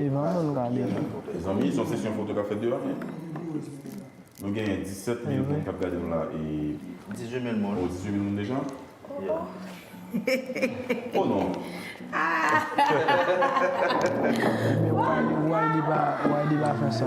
Mezanmi son sesyon foto kap fèt devan men Nou genyen 17 mil moun kap gade nou la e 18 mil moun oh 18 mil moun deja oh oh non Wayne Wayne pa fè sa.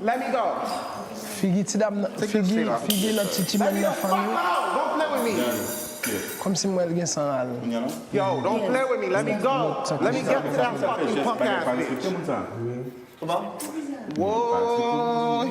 Let me go Figi ti dam nan figi figi nan ti chimèn nan funny Kòmsi m wè l gen san ral Woyy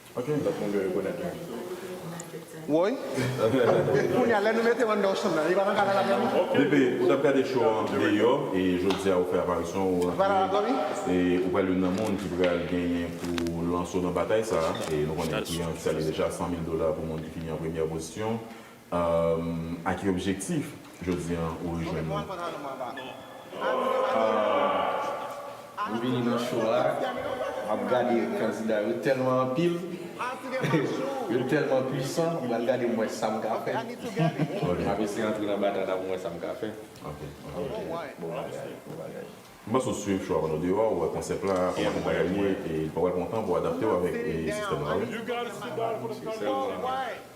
Ok lòt moun yo rekonèt mwen. Woy Kounya lè nou mete w andan yon chanm nan li pa nan kanal la menm non. DP, ou tap gade show an deyò e jodi a ou fè aparisyon ou rantre e ou pral youn nan moun ki pral genyen pou lanse w nan batay sa e nou konnen kliyan ki sale deja 100 mil dola pou moun ki fini an premyè pozisyon. A ki objektif jodi an ou rejwenn nou? M vini nan show a map gade kandida yo tèlman anpil yo tèlman pwisan m pral gade m wè sam ka fè map eseye antre nan batay la pou m wè sam ka fè ok bon bagay bon bagay. M panse ou swiv show a pandan w deyò ou wè konsèp la kòman tout bagay ye e ou pral pran w tan pou adapte w avèk sistèm la wi.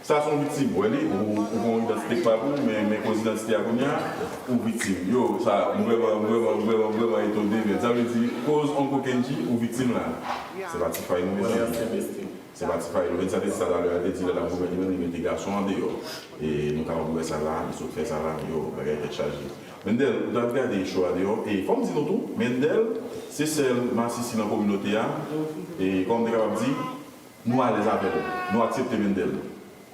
Sa son viktim wè li ou ou gon idantite kpab ou men men koz idantite a kounya ou viktim yo sa m vrèman m vrèman m vrèman m vrèman etone men sa vle di koz onko kendji ou viktim la se pa ti fay non mezanmi se pa ti fay lorensa te di sa talè a li te di lè lap goumen li menm li mete gason an deyò e nou kapab wè sa la li sot fè sa la yo bagay tèt chaje Mendel ou tap gade cho a deyò e fòm di nou tou Mendel se sèl masisi nan kominote a e kòm m te kapab di Nou alèz avèl Nou aksepte Mendel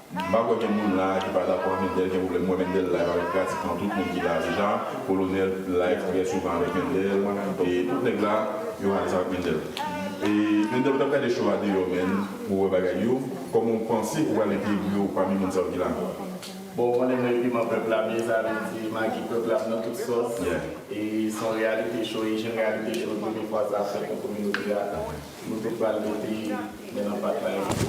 M pa kwè gen moun la ki pa dakò ak Mendel gen pwoblèm M wè Mendel live avèk pratikman tout moun ki la deja Kolonèl live trè souvan avèk Mendel e tout nèg la yo alèz avèk Mendel e Mendel ou tap gade show a deyò menn pou wè bagay yo Kòman ou panse ou pral entegre ou pami moun sa yo ki la. Bon ou konnen mwen piman pèp la byen sa vle di magi pèp la m nan tout sòs e se yon reyalite cho e jen reyalite cho premye fwa sa fèt nan kominote a nou te pral mete men nan pat la.